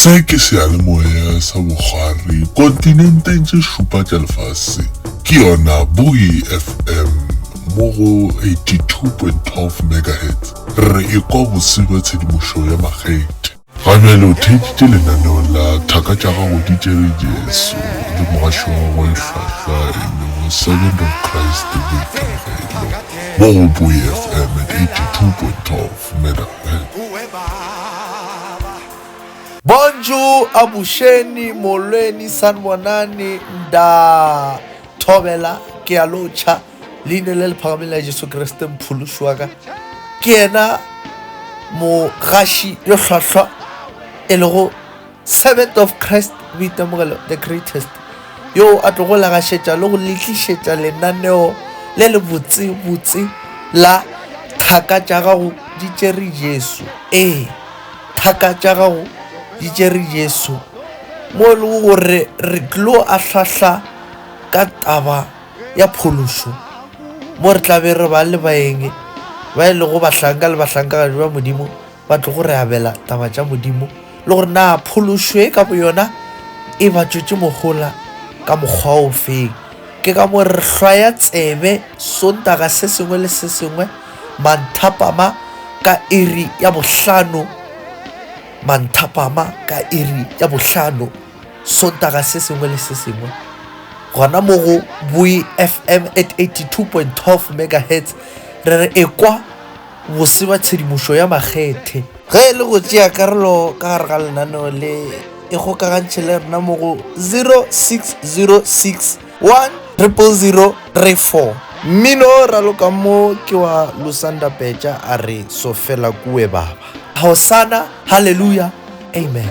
Se ke seyalemoya sa bogare kontinenteng tše šupa tša lefase. Ke yona Buoy FM mo go 82.12 megahertz. Re e kwa bose bja tshedimošo ya makgethe. Ga bjale o theeditše lenaneong la Thaka tša Gago di Tšere Jesu le mogašo wa gagwe e hlwahlwa e lego Servant of Christ Victor Mgailo mo go Buoy FM at 82.12. Bonjour Abušeni, Molweni, Sanbonani, Nda Thobela, ke a lo tšha Leine le le phagameng la Jesu Kriste Mphološi wa ka, ke yena mogaši yo hlwahlwa e lego Servant of Christ, Boitemogelo, the greatest, yoo a tlogo legašetša le go le tlišetša lenaneo le le botsebotse la Thaka tša gago di tšere Jesu. Ee, thaka tša gago di tšere Jesu, mo e lego gore re tlo ahlahla ka taba ya phološo, mo re tla be re ba le baeng ba e lego bahlanka le bahlankagadi ba Modimo, ba tlogo re abela taba tša Modimo le gore na phološo e ka boyona e ba tšwetše mohola ka mokgwa o feng. Ke ka mo re hlwaya tsebe Sontaga se sengwe le se sengwe manthapama ka iri ya bohlano, manthapama ka iri ya bohlano Sontaga se sengwe le se sengwe gona mo go Bui FM at 82.12 megahertz re re ekwa Bose ba tshedimošo ya makgethe. Ge e le go tšea karolo ka gare ga lenaneo le, ikgokagantšhe le rena mo go 0606 100 034. Mmino o ralokang mo ke wa Lusanda Pecha a re, Sofela Kuwe Baba. Hosana, Hallelujah, Amen.